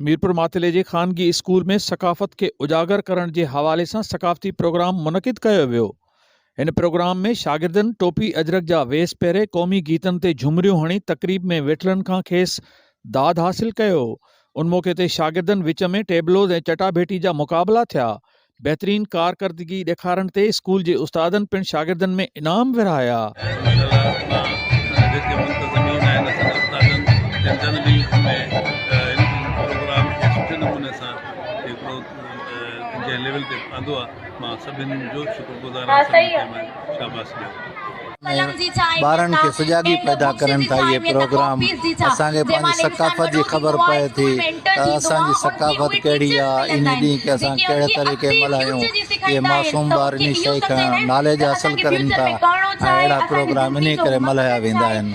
ميرپور ماتلي جي خانگي اسڪول ۾ ثقافت کي اجاگر ڪرڻ جي حوالي سان ثقافتي پروگرام منعقد ڪيو ويو هن پروگرام ۾ شاگردن ٽوپي اجرڪ جا ويس پهري قومي گيتن تي جهمريون هڻي تقريب ۾ ويٺلن کان کيس داد حاصل ڪيو ان موقعي تي شاگردن وچ ۾ ٽيبلوز ۽ چٽا ڀيٽي جا مقابلا ٿيا بهترين ڪارڪردگي ڏيکارڻ تي اسڪول جي استادن پڻ شاگردن ۾ انعام ورهايا. ۾ ٻارن کي سجاڳي پيدا ڪرن ٿا اهي پروگرام اسان کي پنهنجي ثقافت جي خبر پئي ٿي ته اسان جي ثقافت ڪهڙي آ انهي ڏينهن کي اسان ڪهڙي طريقي ملهايون اهي معصوم ٻار انهي شئي کان ناليج حاصل ڪرين ٿا ۽ اهڙا پروگرام انهي ڪري ملهايا ويندا آهن.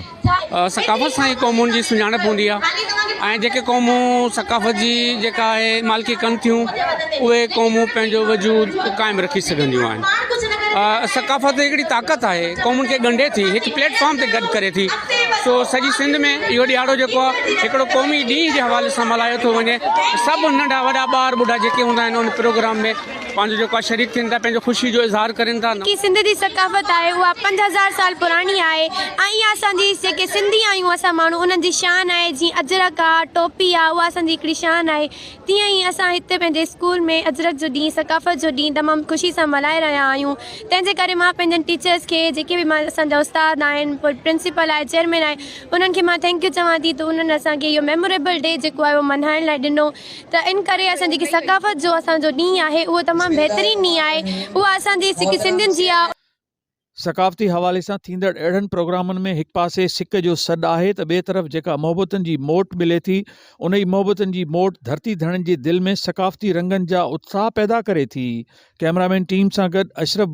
ثقافت سان ئي قومن جي سڃاڻپ هوندي آهي ۽ جيڪي قومون ثقافت جي جيڪا آهي مالڪي ڪن ٿيون اهي قومون پنهنجو وجود قائم رکي سگهنديون آهن ثقافت هڪڙي طاقت آهي قومن کي ڳنڍي ٿي هڪ پليٽ فارم تي گڏ ڪري ٿي سو سڄي سنڌ ۾ اهو ڏيهاڙو جيڪو آهي هڪڙو قومي ڏينهن جي حوالي سان ملهايو ٿو وڃي سڀ ننڍا وڏا ٻار ٻڍا جيڪي هوندا آهن ان پروگرام ۾ پنهنجو جيڪو آهي شريڪ ٿين ٿا پنهنجو خوشي جو اظهار ڪرين ٿا. جيڪي سنڌ جي ثقافت آهي اها پنج هزار سال پراڻي آهي ۽ اها اسان جي جيڪي سنڌي آهيون اسان ماڻهو انهن جي شان آهي جيئن اجرڪ آ ٽوپي آ اها اسان جي هڪڙي شان آهي تيئن ئي اسان هتي پنهنجي اسڪول ۾ اجرڪ جو ڏينهن ثقافت جو ڏينهن تمام خوشي سان ملهائي رهيا آهيون تنهن جي ڪري مان پنهنجن ٽيچرس کي جيڪي به مان اسان جا استاد آهن پوء پرنسپل آهي چيئرمين آهي انهن کي مان ٿينڪ يو چوان ٿي ته انهن اسان کي اهو ميموريبل ڊي جيڪو آهي اهو ملهائڻ لاء ڏنو ته ان ڪري اسان جيڪي ثقافت جو اسان جو ڏينهن آهي اهو تمام بهترين ڏينهن آهي اهو اسان جي سکي سنڌين جي آهي. ثقافتي حوالي سان ٿيندڙ اهڙن پروگرامن ۾ هڪ پاسي سڪ جو سڏ آهي ته ٻئي طرف جيڪا محبتن جي موٽ ملي ٿي انهي محبتن جي موٽ ڌرتي ڌڻين جي دل ۾ ثقافتي رنگن جا اتساهه پيدا ڪري ٿي ڪئميرا مين ٽيم سان گڏ اشرف